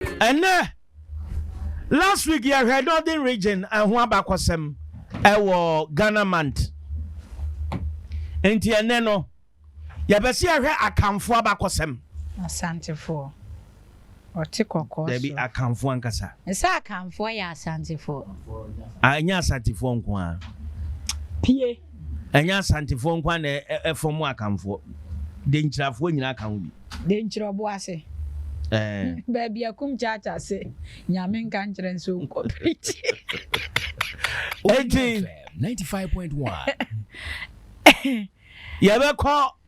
Ɛnnɛ, last week yɛhwɛ Northern Region ɛho abakɔsɛm ɛwɔ Ghana Month. Nti ɛnnɛ no, yɛbɛsi yɛhwɛ Akanfoɔ abakɔsɛm. Asantefoɔ, ɔte kɔkɔɔ so. Dabi, Akanfoɔ ankasa. Ɛsɛ Akanfoɔ yɛ Asantefoɔ. Ah, ɛnyɛ Asantefoɔ nko ara. Pie. Ɛnyɛ Asantefoɔ nko ara na ɛfɔm Akanfoɔ, Denkyirafoɔ nyinaa ka ho bi. Denkyira Ɔboase, baabi a Kum Kyaakyaa se, Nyame nka nkyerɛ no sɛ ɔnkɔ preach. Enti, yɛbɛkɔ.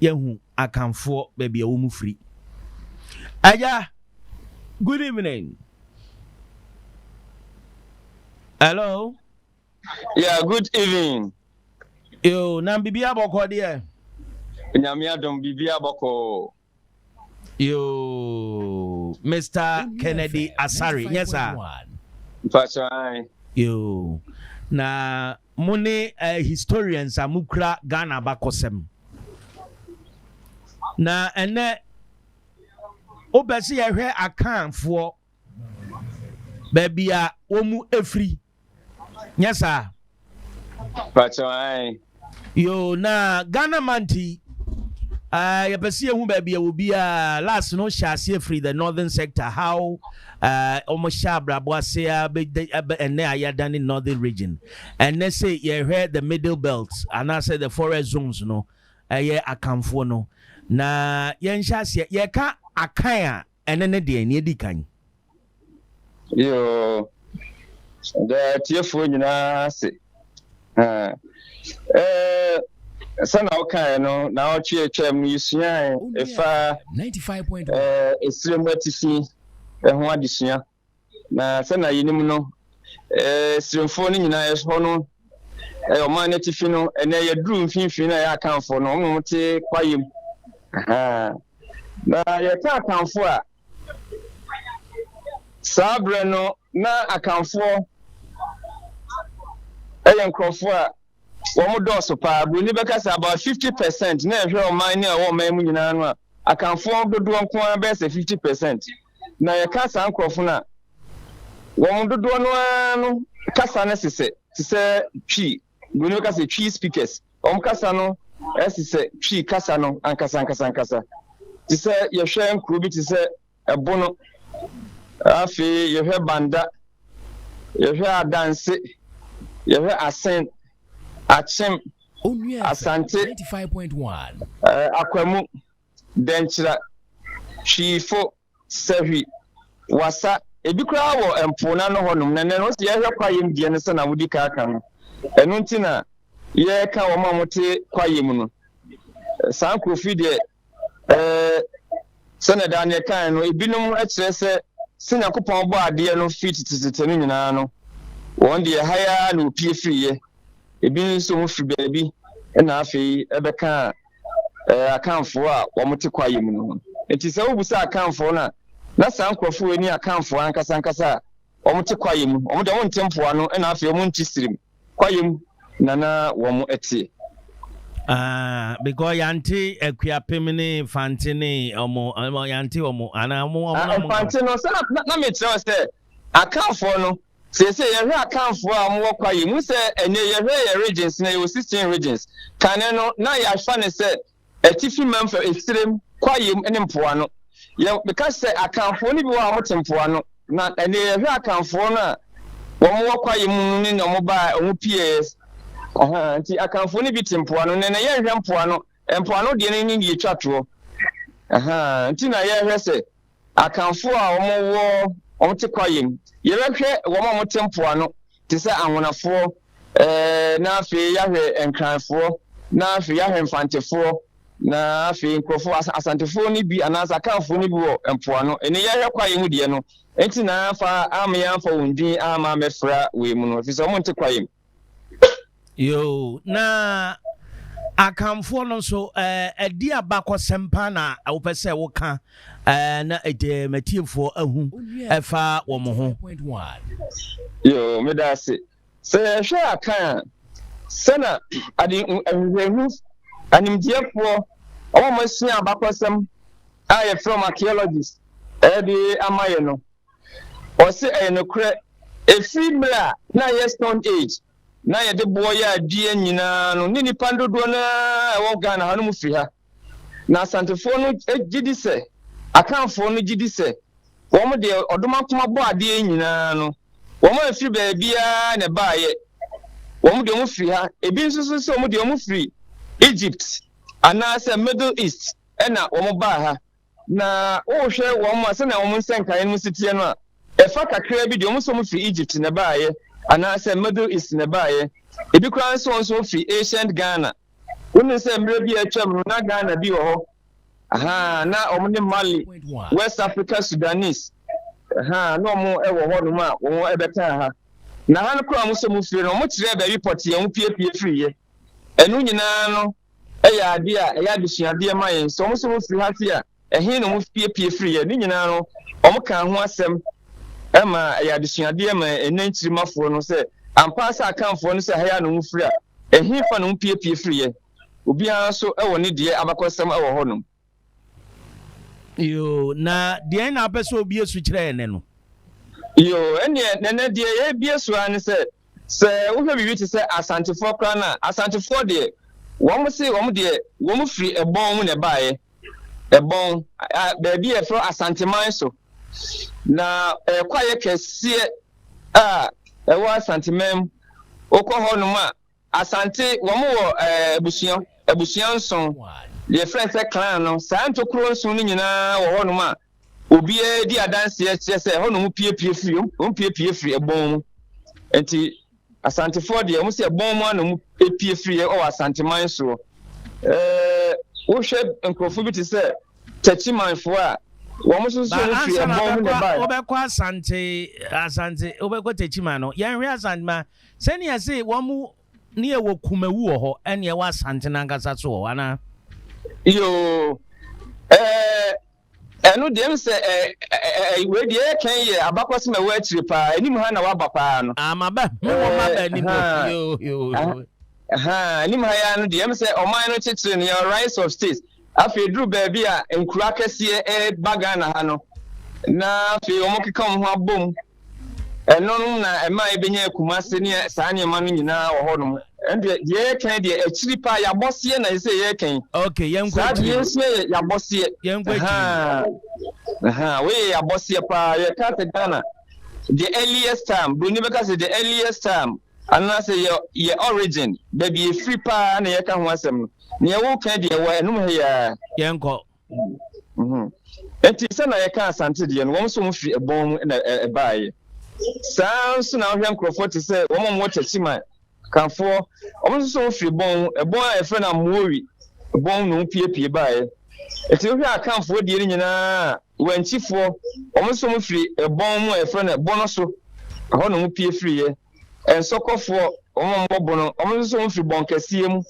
Yɛahu Akanfoɔ baabi a wɔn firi. Agya, good evening. Hello. Yeah, good evening. Yo, na biribi abɔkɔ deɛ. Nyame adom biribi abɔkɔ. Yoo, Mister Kennedy Asare, nyɛ saa? Mpatsɔ ae. Yoo, na mo ne eh, historians a mokura Ghana abakɔsɛm. Na ɛnɛ, wopɛ sɛ yɛhwɛ Akanfoɔ, baabi a wɔn mu efiri. Nyɛ saa. Patsɔ ae. Yoo na Ghana month yi uh, yɛpɛ sɛ yɛhu baabi ɛwɔ biara last no hyɛ aseɛ firi the northern sector how uh, wɔn hyɛ abrabɔ ase abɛ ɛnɛ a yɛadane northern region ɛnɛ sɛ yɛhwɛ the middle belt anaasɛ the forest zones no ɛyɛ akanfoɔ no na yɛnhyɛ aseɛ yɛka akan a Ɛnɛ ne deɛn? Nea edi kan. Yoo, meda atiefoɔ nyinaa ase. Sɛna wokaeɛ no, naawɔtwe a atwam no yɛsuae ɛfa ɛserɛ mu atifi ho adesua. Na sɛnea yenim no, Siremfo no nyinaa hɔ no yɛ ɔman no atifi no. Ɛnnɛ yɛaduru mfimfini na yɛyɛ Akanfo no, wɔn te kwaeɛm. Na yɛka Akanfo a, saa berɛ no na Akanfoɔ yɛ nkurɔfoɔ a wɔn dɔɔso paa. Buroni bɛka sɛ about 50 percent na ɛhwɛ ɔman no a ɛwɔ ɔman mu nyinaa no a, Akanfoɔ dodoɔ nko ara bɛyɛ sɛ 50 percent. Na yɛka saa nkurɔfo no a, wɔn dodoɔ no ara no kasa no sesɛ te sɛ Twi, Buroni bɛka sɛ Twi speakers, wɔn kasa no sesɛ Twi kasa no ankasa ankasa ankasa. Te sɛ yɛhwɛ nkuro bi te sɛ Ɛbono, afei yɛhwɛ Banda, yɛhwɛ Adanse, yɛhwɛ Asen, Akyem, Asante, eh, Akwamu, Dɛnkyira, Twifo, Sahwi, Wassa, ebi koraa wɔ mpo no ano hɔnom, na nnɛ no wɔsi yɛhwɛ kwaeɛm deɛ no sɛnea wodi kan aka no. Ɛno nti na yɛreka wɔn a wɔte kwaeɛm no. Saa nkurɔfo yi deɛ, ɛɛ, sɛnea Daniel kae no, ebinom kyerɛ sɛ sɛ Nyankopɔn bɔ adeɛ no firi tetetete no nyinaa no, wɔn deɛ ha ara na wɔpie firiiɛ. Ebi nso wɔfiri baabi na afei ɛbɛkaa ɛɛ Akanfoɔ a wɔte kwaeɛ mu no ho. Enti sɛ wobisa Akanfoɔ no a, na saa nkurɔfoɔ wei ne Akanfoɔ ankasa ankasa a wɔte kwaeɛ mu. Wɔn deɛ wɔnte mpoano na afei wɔnte sirim. Kwaeɛ mu na na wɔteɛ. Ah, because yɛante Akuapem ne Fante ne wɔn, yɛante wɔn anaa wɔn. Ah, Fante no, sɛ na mekyerɛ wo sɛ Akanfoɔ no Seesei yɛhwɛ Akanfoɔ a wɔwɔ kwa yi mu sɛ ɛnɛ yɛhwɛ yɛn regions no a yɛwɔ sixteen regions, kane no na yɛafa no sɛ Atifi Mam fam, Esirem, Kwayam ne Mpoano. Yɛ meka sɛ Akanfoɔ no bi wɔ hɔ a wɔte Mpoano na ɛnɛ yɛhwɛ Akanfoɔ no a wɔwɔ Kwayam mu no ne wɔn baa wɔn pieeɛ aha nti Akanfoɔ no bi te Mpoano na ɛnɛ yɛnhwɛ Mpoano Mpoano deɛ no ne yɛtwa toɔ aha nti na yɛhwɛ sɛ Akanfoɔ a wɔwɔ, wɔte kwaeɛ mu. Yɛbɛhwɛ wɔn a wɔte mpoano te sɛ Anwonafoɔ, na afei yɛahwɛ Nkranfoɔ, na afei yɛahwɛ Mfantefoɔ, na afei nkurɔfoɔ, Asantefoɔ no bi anaasɛ Akanfoɔ no bi wɔ mpoano. Ɛnni yɛhwɛ kwaeɛ mu deɛ no, nti na amfa, ammea amfa wɔn din amma ammɛfra wei mu no, ɛfiri sɛ wɔnte kwaeɛ mu. Yoo, na Akanfoɔ no nso ɛdi abakɔsɛm paa na wopɛ sɛ woka na matiefoɔ ahu ɛfa wɔn ho. Yoo, meda ase. Sɛ yɛhwɛ Akan a, sɛ na ade nhwehwɛmu animdeɛfoɔ wɔn a wɔasua abakɔsɛm a yɛfrɛ wɔn archaeologists ɛde ama yɛ no, Ɔse ɛyɛ nokorɛ, ɛfiri mmerɛ a na ɛyɛ Stone Age na yɛde boɔ yɛ adeɛ nyinaa no ne nnipa dodoɔ no ara a ɛwɔ Ghana ha no mu firi ha. Na Asantefoɔ no gye di sɛ, Akanfoɔ no gye di sɛ, wɔn deɛ Ɔdomankoma bɔ adeɛ yi nyinaa no, wɔn amfiri baabiara na ɛbaeɛ. Wɔn deɛ wɔn firi ha. Ebi nso so sɛ wɔn deɛ wɔn firi Egypt anaasɛ Middle East ɛna wɔn baa ha. Na wohwɛ wɔn a sɛnea wɔn nsɛ nkaeɛ no mu si teɛ no a, ɛfa kakraa bi deɛ wɔn nso wɔfiri Egypt na ɛbaeɛ anaasɛ Middle East na ɛbaeɛ. Ebi koraa nso wɔn nso wɔfiri ancient Ghana. Wonim sɛ mmerɛ bi a atwam no na Ghana bi wɔ hɔ. Ahaa, na wɔn ne Mali, West Africa Sudanese. Ahaa, na wɔn wɔ hɔnom a wɔn bɛkaa ha. Na ha no koraa a wɔn nso wɔfiri no, wɔkyerɛɛ baabi pɔtee a wɔpiepie firiiɛ. Ɛno nyinaa no, yɛ ade a ɛyɛ adesuadeɛ ma yɛn. Sɛ wɔn sɛ wɔfiri ha fi a, ɛhe na wɔpiepie firiiɛ? Ne nyinaa no, wɔkaa ho asɛm ma ɛyɛ adesuadeɛ ma ɛnnɛ nkyirimmafoɔ no sɛ, ampa ara sɛ Akanfoɔ no sɛ ha yi ara na wɔfiri a, ɛhefa na wɔpiepie firiiɛ? Obiara nso wɔ ne deɛ abakɔsɛm wɔ hɔnom. Yoo, na deɛn na wopɛ sɛ obie so kyerɛ ɛnɛ no? Yoo, ɛnneɛ nɛnɛ deɛ yɛrebie so ara ne sɛ, sɛ wohwɛ biribi te sɛ Asantefoɔ koraa no a, Asantefoɔ deɛ, wɔn se wɔn deɛ wɔn firi ɛbɔn mu na ɛbaeɛ, ɛbɔn, a, baabi a yɛfrɛ Asanteman so, na ɛyɛ kwaeɛ kɛseɛ a ɛwɔ Asanteman mu, wokɔ hɔnom a, Asante, wɔn wɔ abusua abusua nson, deɛ yɛfrɛ sɛ clan no. Saa ntokuro nson no nyinaa wɔ hɔnom a obiara di adanseɛ kyerɛ sɛ ɛhɔ na wɔn piepie firi, wɔn piepie firi ɛbɔn mu. Nti Asantefoɔ deɛ wɔn sɛ ɛbɔn mu ana wɔn pie firi yɛ wɔ Asanteman soɔ. Ɛɛ wohwɛ nkurɔfoɔ bi te sɛ Takyimanfoɔ a wɔn nso so wɔn firi ɛbɔn mu na ɛbaeɛ. Wobɛkɔ Asante, Asante, wobɛkɔ Takyiman no, yɛnhwɛ Asante ma Sɛnea ɛse wɔn mu ne ɛwɔ Kumawu wɔ hɔ ɛne ɛwɔ Asantene ankasa so wɔ hɔ anaa? Yoo, ɛɛ ɛno deɛ ɛm sɛ ɛ ɛ wei deɛ ɛkɛn yɛ abakɔsem ɛwɔ akyire paa, anim ha na waba paa no. Ah, maba, me wɔ maba anim o, yoo yoo yoo. Ahaa, anim ha yaa no deɛ ɛm sɛ ɔman no kyekyere no, yɛwɔ rights of states, afei duru baabi a nkuro akɛseɛ ɛɛba Ghana ha no, na afei wɔn keka wɔn ho abom. Ɛno no na ɛma yɛbɛnya akumase ne saa nneɛma no nyinaa wɔ hɔnom. Ɛno deɛ, deɛ yɛreka yi deɛ, akyiri paa, yɛabɔseɛ na ɛsɛ sɛ yɛreka yi. Okay, yɛnkɔ Saa deɛ akyiri no. yɛresua yɛ yɛabɔseɛ. Yɛnkɔ akyiri no. Ahaa. Ahaa, wei yɛ yɛabɔseɛ paa. Yɛka sɛ Ghana, the earliest time, Buroni bɛka sɛ the earliest time, anaasɛ yɛ, yɛ origin, baabi a ɛfiri paa na yɛka ho asɛm no. Deɛ woreka yi deɛ, ɛwɔ ɛnom ha yi ara. Yɛnkɔ. Mhm. Enti sɛ na yɛka Asante deɛ no, wɔn nso wɔn firi ɛbɔn mu na ɛ- ɛbaeɛ. Saa nso na wohwɛ nkurɔfoɔ te sɛ wɔn a wɔwɔ Kyakyiman, Kafoɔ, wɔn nso so wɔn firi bɔn mu. Ɛbɔn a yɛfrɛ no Amoori bɔn na wɔpuepue baeɛ. Enti wohwɛ Akanfoɔ deɛ no nyinaa a, Wankyifoɔ, wɔn nso wɔn firi ɛbɔn mu a yɛfrɛ no Ɛbɔno so, ɛhɔ na wɔpue firiiɛ. Nsɔkɔfoɔ, wɔn a wɔbɔ bono, wɔn nso so wɔfiri bɔn kɛseɛ mu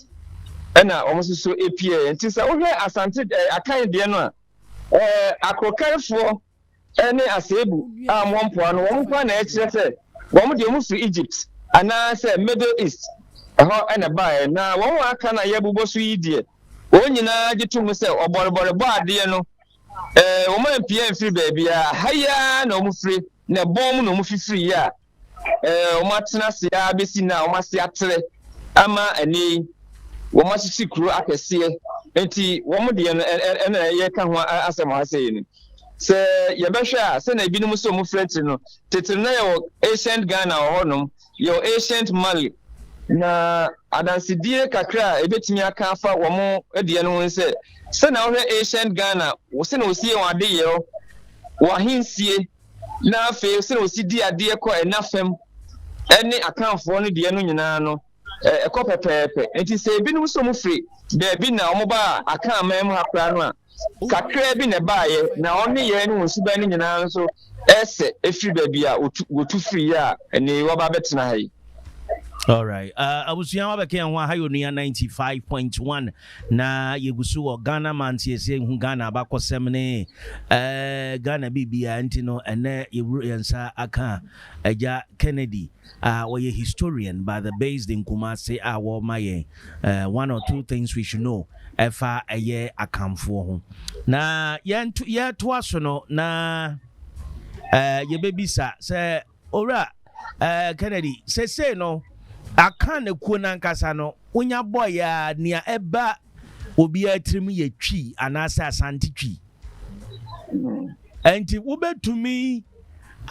na wɔn nso so pieeɛ. Nti sɛ wohwɛ Asante ɛɛ Akan deɛ no a, ɛɛ Akrokanfoɔ ne Aseebu a wɔn wɔ mpoano, wɔn nko ara na ɛkyerɛ sɛ wɔn deɛ wɔfiri Egypt anaasɛ Middle East ɛhɔ na ɛbaeɛ. Na wɔn a aka no a yɛbobɔ so yi deɛ, wɔn nyinaa gye to mu sɛ ɔbɔrebɔrebɔ adeɛ no, ɛɛ wɔn ampie amfiri baabiara, ha yi ara na wɔfiri, na ɛbɔn mu na wɔfifiriiɛ a wɔatena ase ara bɛsi nnɛ a wɔn ase atrɛ ama ɛnɛ yi wɔasisi kuro akɛseɛ nti wɔn deɛ no ɛna yɛka ho asɛm ha sɛ yi no sɛ yɛbɛhwɛ a sɛna ebinom sɛ wɔn fira tiri no tete na yɛwɔ ancient Ghana wɔ hɔnom yɛwɔ ancient Mali na adansedie kakra a ɛbɛtumi aka afa wɔn deɛ no ho sɛ sɛna wɔhwɛ ancient Ghana sɛna wɔsie wɔn adeyɛ wɔ ahensie Na afei sɛnea wɔsi di adeɛ kɔ ɛna fam ne Akanfoɔ no deɛ no nyinaa no, ɛkɔ pɛpɛɛpɛ. Enti sɛ ebinom nso wɔn firi baabi na wɔn baa Akan man mu ha koraa no a, kakraa bi na ɛbaeɛ, na wɔn nneyɛɛ ne wɔn suban no nyinaa nso ɛsɛ efiri baabi a wɔtu wɔtu firiiɛ a ɛnɛ yi wɔaba abɛtena ha yi. Alright, uh, abusua wabɛka yɛn ho aha yɛ onua 95.1 Na yɛgu so wɔ Ghana manteɛ sɛ yɛhu Ghana abakɔsɛm ne Ghana biribiara nti no ɛnnɛ yɛburu yɛn nsa aka Agya Kennedy a ɔyɛ historian but the based in Kumasi a wɔma yɛn one or two things we should know ɛfa ɛyɛ Akanfoɔ ho. Na yɛtoa so no na yɛbɛbisa sɛ Owura eh, Kennedy, sesei no, aka ne kuo no ankasa no, wonya bɔɔyɛ a, nea ɛba obiara tirim yɛ twi anaasɛ asante twi. Ɛnti hmm. wobɛtumi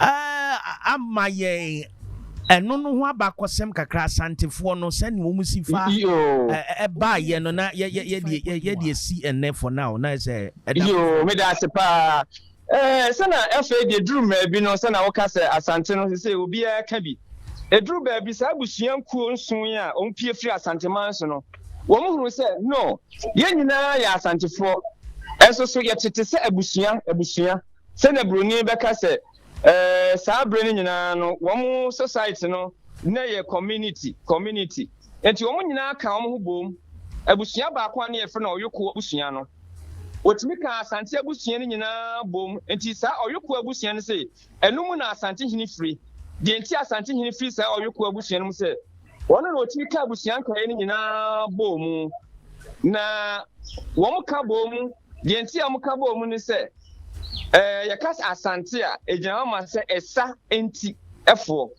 eh, ama yɛn ɛno no ho abakɔsɛm kakra asantefoɔ no sɛnea wɔn si fa ɛbaa yɛ no na yɛde esi ɛnɛ for now na ɛsɛ ɛda. yoo meda ase paa Ɛɛ sɛ na afei deɛ ɛduru mmaabi no sɛ na woka sɛ Asante no sesei obiara ka bi. Ɛduru baabi saa abusua nkuo nson yi a wɔn pie firi Asante man so no wɔn hunu sɛ no yɛn nyinaa yɛ Asantefoɔ nso so yɛte te sɛ abusua abusua sɛ na buroni bɛka sɛ ɛɛ saa berɛ no nyinaa no wɔn society no na yɛ community community. Enti wɔn nyinaa kaa wɔn ho boom. Abusua baako a na wɔfrɛ no Ɔyoko abusua no, wɔtumi kaa Asante abusua no nyinaa boom. Enti saa Ɔyoko abusua no se, ɛno mu na Asante hene firi. Deɛ enti a Asante hene firi saa Ɔyoko abusua no mu sɛ, wɔn na wɔtumi ka abusua nkaeɛ no nyinaa boom. Na wɔn ka boom, deɛ enti a wɔn ka boom ne sɛ, eh, yɛka Asante a, ɛgyina hɔ ma sɛ ɛsa nti foɔ.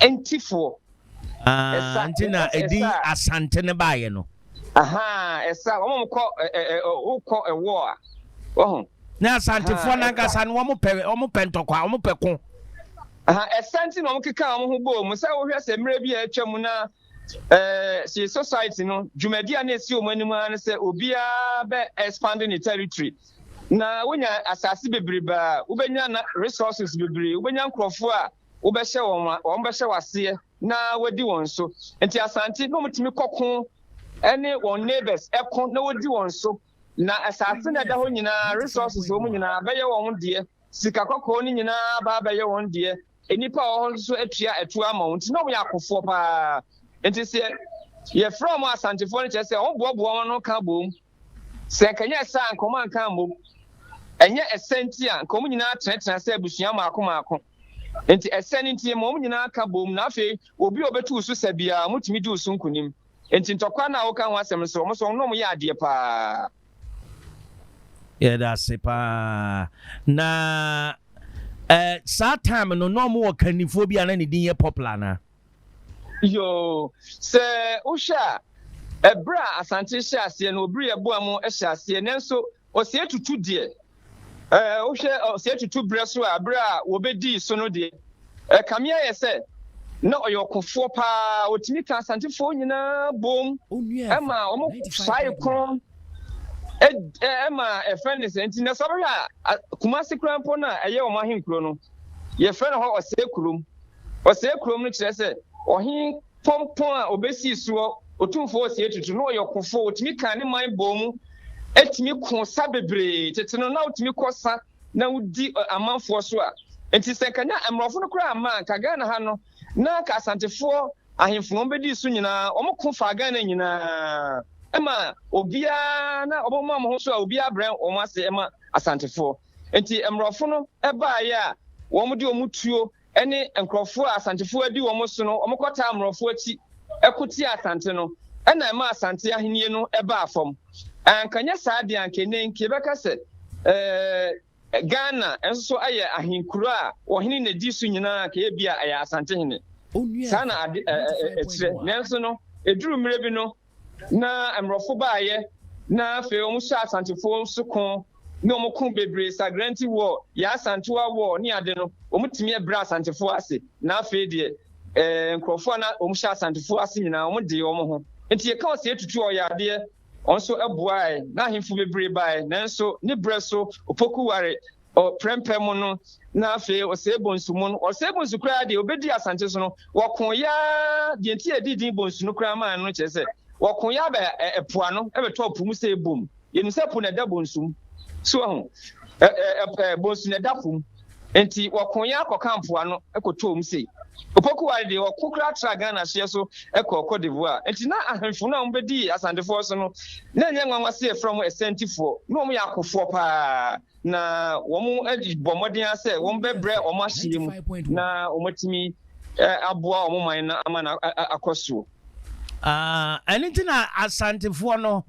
ntifoɔ. Ah, nti na ɛdi asante no baeɛ no. Aha, ɛsa wɔn wɔn kɔ ɛ ɛ wokɔ ɛwɔ a wɔho. Na asantefoɔ nankasa no wɔn pɛ wɔn pɛ ntɔkwa wɔn pɛ ko. Aha, ɛsa nti na wɔn keka wɔn ho bɔɔ mu sɛ wohwɛ sɛ mmerɛ bi a atwa mu na ɛɛ si society no dwumadi a na esi wɔn anim ara no sɛ obiara bɛ expanding ne territory na wonya asase bebrebe a wobɛnya na resources bebree wobɛnya nkurɔfoɔ a wobɛhyɛ wɔn ma wɔbɛhyɛ wo aseɛ na wadi wɔn so. Nti Asante na wɔtumi kɔko ne wɔn neighbors ko na wɔdi wɔn so. Na asase na ɛda hɔ nyinaa, resources wɔn nyinaa bɛyɛ wɔn deɛ, sika kɔkɔɔ no nyinaa ba abɛyɛ wɔn deɛ. Nnipa a wɔwɔ hɔ nso atua atua ama wɔn, nti na wɔyɛ akofoɔ paa. Nti sɛ yɛfrɛ wɔn Asantefoɔ no kyerɛ sɛ wɔboaboa wɔn ano ka bom Sɛ anka ɛnyɛ saa a, anka wɔanka ammom. Ɛnyɛ ɛsɛ nti a, anka wɔn nyinaa tenatena sɛ abusua mmaako mmaako. Enti ɛsɛ no nti, ɛma wɔn nyinaa ka boom, na afei obi a obetu wo so sa biara, wɔtumi di wo so nkonim. Enti ntɔkwa no a woka ho asɛm no nso, wɔn nso wɔn ne wɔn yɛ adeɛ paa. Yɛda ase paa. Na eh, saa time no, na wɔwɔ kannifoɔ bi a na ne din yɛ popular anaa? Yoo, sɛ wohwɛ a, ɛberɛ a Asante hyɛ aseɛ no, obiri ɛboa mu hyɛ aseɛ, nanso ɔsɛ tutu deɛ, ɛɛ wohwɛ ɔsɛ tutu berɛ so a, berɛ a wɔbɛdii so no deɛ, ɛkame ayɛ sɛ na ɔyɛ ɔkofoɔ paa, ɔtumi ka Asantefoɔ nyinaa boom, ɛma wɔn saa ekron, ɛma ɛfɛn ne sɛ nti na sɛ ɔbɛhwɛ a Kumasi koraa mpo no a ɛyɛ wɔn ahenkuro no, yɛfrɛ no hɔ ɔsɛ kurom. Ɔsɛɛ kurom no kyerɛ sɛ ɔhene pɔmpɔn a obesii soɔ, otumfoɔ ɔsɛɛ tutu. Na ɔyɛ ɔkofoɔ, otumi kaa ne man bɔɔ mu tumi koo sa bebree. Tete no, na wotumi kɔ sa na wodi amanfoɔ so a enti sɛ anka na mmorɔfo no koraa amma a, anka Ghana ha no na anka Asantefoɔ ahemfo na wɔbedii so nyinaa. Wɔko faa Ghana nyinaa ma obiara na wɔma wɔn ho so a obiara brɛ wɔn ase ma Asantefoɔ. Enti mmorɔfo no baeɛ a wɔn de wɔn tuo ne nkurɔfoɔ a Asantefoɔ adi wɔn so no wɔn kɔtaa mmorɔfo akyi ko tiaa Asante no ɛna ɛmaa Asante ahennie no baa fam. Anka nyɛ saa deɛ anka ɛnnɛ nka yɛbɛka sɛ eh, Ghana nso so ayɛ ahenkuro a ɔhene na ɛdi so nyinaa anka yɛbia ɛyɛ Asantehene. Saa na ade ɛkyerɛ. Nanso no ɛduru mmerɛ bi no Na mmrɔfo baeɛ na afei wɔn hyɛɛ asantefoɔ so ko ne wɔn ko bebree sagra nti wɔ yɛn asantewa war ne ade no wɔn tumi ɛbrɛ asantefoɔ ase na afei deɛ eh nkurɔfoɔ a na wɔn hyɛ asantefoɔ ase nyinaa wɔn dee wɔn ho nti yɛka wɔ sɛ yɛtutu ɔyɛ adeɛ wɔn nso ɛboaɛ na ahemfo bebree baeɛ nanso ne berɛ so opoku ware Ɔ Prɛmpɛ mo no, na afei Osei Bonsu mo no, Osei Bonsu koraa deɛ ɔbɛdii Asante so no, wɔko yɛ ara, deɛ nti yɛdii din Bonsu no koraa maa no no kyerɛ sɛ, wɔko yɛ ara ba ɛ ɛ po ano, bɛtɔɔ po mu sɛ ɛbom. Yɛnim sɛ po na ɛda Bonsu mu. So wahu? Ɛ ɛ ɛ ɛ Bonsu na ɛda po mu. Nti wɔko yɛ ara kɔkaa po ano kɔtɔɔ mu sei. Opoku Ware deɛ ɔko koraa tra Ghana hyeɛ so kɔɔ Cote d'Ivoire. Nti na ahemfo no a wɔbɛdii Asantefoɔ so no, na ɛnyɛ nwanwa sɛ yɛfrɛ wɔn Asɛntifoɔ. Na wɔyɛ akofoɔ paa. na wɔbɔ mmɔden ara sɛ wɔbɛbrɛ wɔn ahyeɛ mu na wɔatumi aboa wɔn man no ama no akɔ soɔ. ɛno nti na asantefoɔ no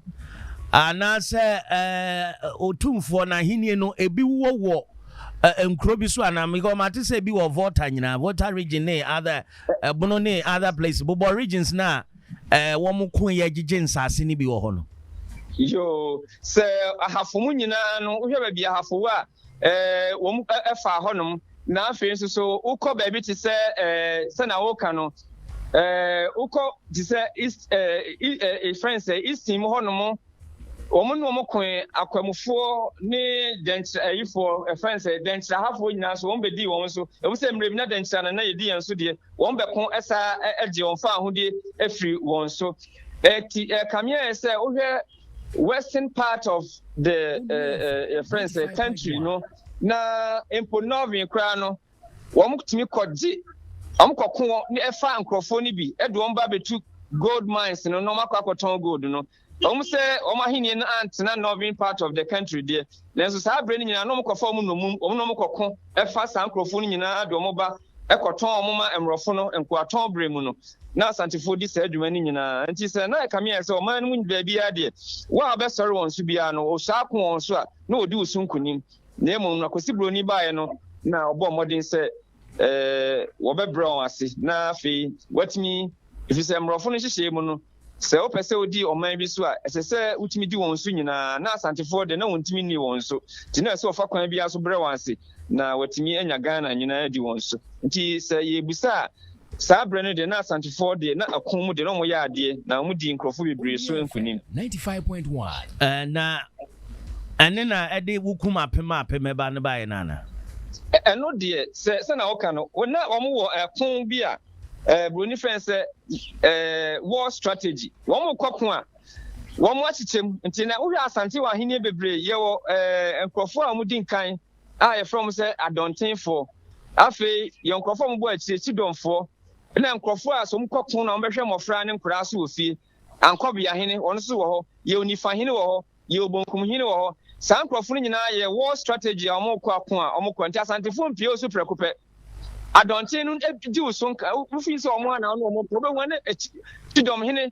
anaasɛ ɔtumfoɔ no ahennie no ebi wɔ wɔ nkuro bi so anaa mekɔ ɔmo ate sɛ ebi wɔ volta nyinaa volta region ne other ɛbono ne other place bobɔ regions na. ɛɛ, wɔko yɛ gyegye nsase no bi wɔ hɔ no. Yoo, sɛ ahafo mu nyinaa no, wohwɛ baabi ahafo wɔ a, ɛɛ, wɔn ɛfa hɔnom. Na afei nso so, wokɔ baabi te sɛ ɛɛ, sɛnea woka no, ɛɛ, wokɔ te sɛ East, ɛɛ, ɛɛ, efɛn sɛ Easton mu hɔnom Wɔn ne wɔn koe, akwamufoɔ ne dɛnkyerɛ ayifoɔ, ɛfɛn sɛ dɛnkyerɛ ahafoɔ nyinaa nso, wɔn bɛdii wɔn so, ɛfiri sɛ mmerɛ bi na dɛnkyerɛ anan na yɛdi yɛn so deɛ, wɔn bɛko saa gye wɔn fa ahodeɛ firi wɔn so. Ɛti ɛkameɛ sɛ wohwɛ western part of the ɛfɛn sɛ country no, na mpo northern koraa no, wɔn tumi kɔgye, wɔn kɔko wɔn ɛfa nkurɔfoɔ no bi, ɛde wɔn ba bɛtu gold mines no na wɔn akɔ akɔtɔn gold no. Ɛwom sɛ wɔn ahenni no antena northern part of the country deɛ, nanso saa berɛ no nyinaa na wɔkɔfa wɔn nnommum, wɔn na wɔkɔko fa saa nkurɔfoɔ no nyinaa de wɔn ba kɔtɔn wɔn ma mmorɔfo no. Nkoatɔn berɛ mu no, na Asantefoɔ di saa dwuma no nyinaa. Enti sɛ na ɛkame ayɛ sɛ ɔman no mu baabiara deɛ, wɔn a wɔbɛsɔre wɔn so biara no, wɔhyɛ ako wɔn so a, na wɔdi wo so nkonim. Na mmom no, Akossi Buroni baeɛ no, na wɔbɔɔ mmɔden sɛ. wɔbɛbrɛ wɔn ase na afei wɔatumi ɛfiri sɛ mmorɔfo no nhyehyɛɛ mu no sɛ wopɛ sɛ wodi ɔman bi so a ɛsɛ sɛ wotumi di wɔn so nyinaa na asantefoɔ de na wɔntumi nni wɔn so nti na ɛsɛ wɔfa kwan biara so brɛ wɔn ase na wɔatumi anya ghana nyinaa di wɔn so nti sɛ yɛbusa a Saa berɛ no deɛ na Asantefoɔ deɛ na ako mu deɛ na wɔyɛ adeɛ na wɔdii nkorɔfoɔ bebree so nkunim. Ɛɛ na ɛne na ɛde wokum apem a apem ɛba no baeɛ no anaa? Ɛno deɛ sɛ sɛnea woka no na wɔn wɔ ɛko bi a ɛɛ buroni frɛ no sɛ ɛɛ war strategy wɔn kɔ ko a wɔn akyekyɛ mu nti na wohwɛ Asante wɔ ahenni bebree yɛwɔ ɛɛ nkorɔfoɔ a wɔdi nkan a yɛfrɛ wɔn sɛ adɔntenfoɔ. Afei yɛn nkurɔfoɔ a wɔbɔ akyire, Sidonfoɔ, ɛna nkurɔfoɔ a sɛ wɔkɔ ko na wɔbɛhwɛ mmɔfra ne nkoraa so wɔ fie. Ankɔbea hene, wɔn nso wɔ hɔ. Yɛ onifa hene wɔ hɔ. Yɛ obonkum hene wɔ hɔ. Saa nkurɔfoɔ no nyinaa yɛ war strategy a wɔkɔ ako a wɔkɔ. Nti asantefoɔ mpie wo so prɛko pɛ. Adɔnten no di wo so nka. Wofi sɛ wɔn a na wɔn wɔn pɛ. Wobɛhu ne Sidom hene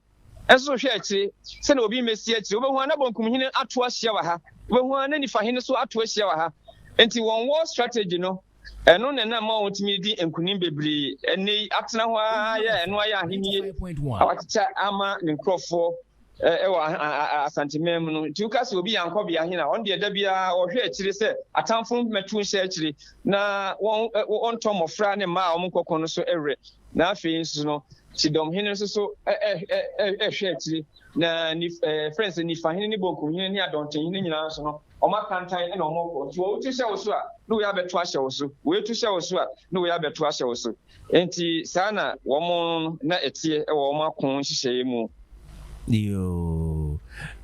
Nso hwɛ akyire sɛdeɛ obi mmɛsi akyire. Wobɛhu ara na Bonkum hene ato ahyia wɔ ha. Wobɛhu ara na Nifa hene nso ato ahyia wɔ ha. Enti wɔn war strategy no, ɛno na ɛnam ma wɔtumi redi nkunim bebree ɛnnɛ yi. Atena hɔ ara yɛ ɛno ayɛ ahennie a wakyekyɛ ama ne nkurɔfoɔ wɔ Asanteman mu no. Nti woka sɛ obi yɛ ankɔbea hene a, ɔno deɛ da biara ɔhwɛ akyire sɛ atamfo mmɛto nhyɛ akyire na wɔntɔ mmɔfra ne mmaa a wɔnkɔko no so werɛ. na afei nso no Sidom hene nso so ɛhwɛ akyire na ɛfrɛ nsɛ nifa hene ne bonkum hene ne adɔnten hene nyinaa nso no wɔn akantan na wɔn kɔ nti wɔn tu hyɛ wo so a na wɔyɛ abɛto ahyɛ wo so wɔyɛ tu hyɛ wo so a na wɔyɛ abɛto ahyɛ wo so nti saa na wɔn na ɛteɛ ɛwɔ wɔn ako nhyehyɛeɛ mu. yoo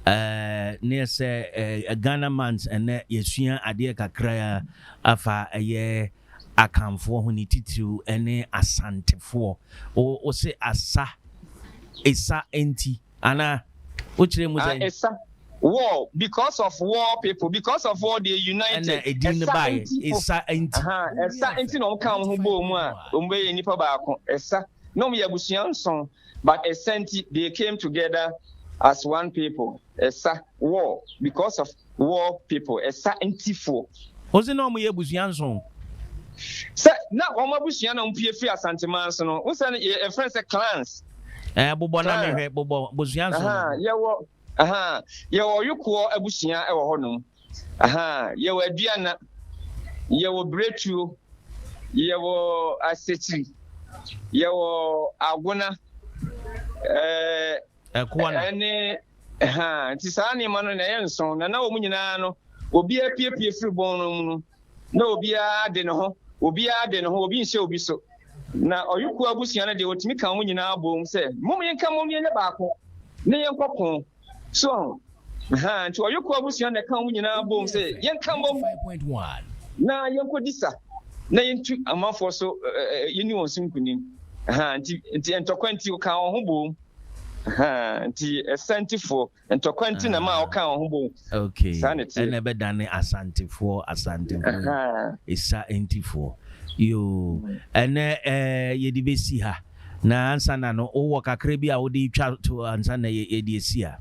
eh, ne sɛ eh, ghana mans ɛnɛ yɛsua adeɛ kakra afa ɛyɛ Akanfoɔ ho ne titiriw ne Asantefoɔ. Wo, wo se Asa, esa nti, anaa? Wo kyerɛ mu sɛn? Ah, esa, war, because of war people, because of war they united. Ɛna edin no baeɛ, esa nti. Esa nti. Ahaa, esa nti na wɔn ka wɔn ho bɔɔ mu a, wɔn bɛyɛ nnipa baako. Esa, na wɔn yɛ abusua nson, but esa nti they came together as one people. Ɛsa, war, because of war people, ɛsa ntifoɔ. Wose na wɔyɛ abusua nson? Sɛ na wɔn abusua na wɔpue firi Asanteman so no, wosɛ no yɛ ɛfrɛ sɛ clans. Ɛɛ bobɔ na mehwɛ bobɔ abusua nson. Aha, yɛwɔ aha, yɛwɔ Ɔyokoɔ abusua ɛwɔ hɔ nom. Aha, yɛwɔ Aduana, yɛwɔ Biretuo, yɛwɔ Asekyiri, yɛwɔ Agona, ɛɛ. Ɛkoa no. Ɛne, ha, nti saa nneɛma no na ɛyɛ nson, na na wɔn nyinaa no, obiara apiepie firi bɔn no mu no, na obiara de ne ho, obiara de ne ho, obi nhyɛ obi so. Na ɔyɔkuo abusua no deɛ, wɔtumi ka wɔn nyinaa boom sɛ, Mom yɛnka mom yɛnyɛ baako, na yɛnkɔko. So ahu? Ahaa nti ɔyokɔ abusua na ɛka wɔn nyinaa bom sɛ yɛnka mmom na yɛnkɔdi sa na yɛntu amanfoɔ so yɛni wɔn so nkunim. Ahaa nti nti ntɔkwa nti ɔka wɔn ho bom. Ahaa nti asantifoɔ ntɔkwa nti na ma ɔka wɔn ho bom. Okay. Saa na ɛteɛ. Ɛna ɛbɛdane asantefoɔ asantefoɔ Ahaa. esa ntifoɔ yoo ɛnɛ ɛɛ yɛde bɛsi ha na ansa na no wowɔ kakra bi a wode twa to ansa na yɛ- yɛde asi ha.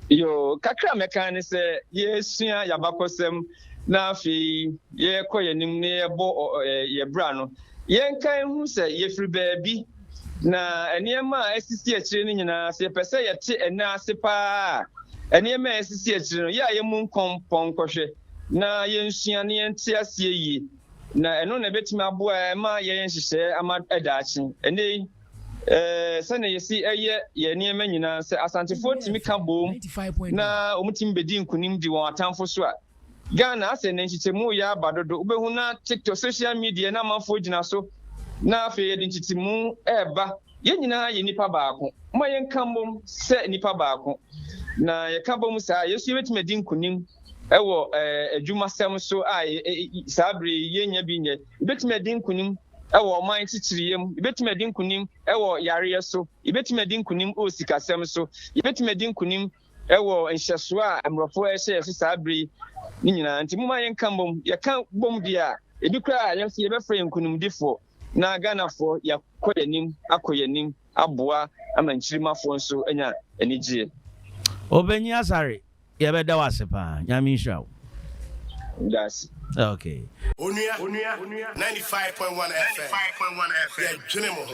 Yoo, kakra a mɛka ara ne sɛ yɛresua yɛn abakɔsɛm na afei yɛrekɔ yɛn anim na yɛrebɔ yɛn bra no, yɛnka nhu sɛ yɛfiri baabi, na nneɛma a asisi akyire no nyinaa, sɛ yɛpɛ sɛ yɛte ɛnna ase paa a, nneɛma a asisi akyire no, yɛ a yɛmmu nkɔmpɔn nkɔhwɛ na yɛnsua na yɛnte aseɛ yie, na ɛno na ɛbɛtumi aboa ma yɛyɛ nhyehyɛɛ ama daakye. Ɛnnɛ yi, Ɛɛ, sɛnea yɛsi yɛ yɛn nneɛma nyinaa, sɛ Asantefoɔ tumi ka boom na wɔtumi bɛdi nkunim di wɔn atamfo so a, Ghana asɛ nnɛ nkyekyɛmu reyɛ aba dodo. Wobɛhu na TikTok, social media na amanfoɔ gyina so na afei yɛde nkyekyɛmu reba. Yɛn nyinaa yɛ nnipa baako. Momma yɛnka mmom sɛ nnipa baako. Na yɛka bɔ mu saa a, yɛn nso yɛbɛtumi adi nkunim wɔ adwumasɛm so a saa bere yi yɛnnya bi nyɛ. Yɛbɛtumi adi nkunim wɔ ɔman kyekyereyɛ mu, yɛbɛtumi adi nkonim wɔ yareɛ so, yɛbɛtumi adi nkonim wɔ sikasɛm so, yɛbɛtumi adi nkonim wɔ nhyɛsoɔ a mmorɔfo ɛhyɛ yɛ so saa berɛ yi ne nyinaa. Nti moma yɛnka mmom, yɛka bom deɛ a, ebi koraa yɛn nso yɛbɛfrɛ yɛn nkonimdifoɔ na Ghanafoɔ yɛakɔ yɛn anim, akɔ yɛn anim aboa ama nkyirimmafoɔ nso anya anigyeɛ. Obenyi Asare, Yɛbɛda wo ase paa. Nyame nhyira wo. Dase. Okay. Onua, 95.1 FM, yɛdwene mo ho.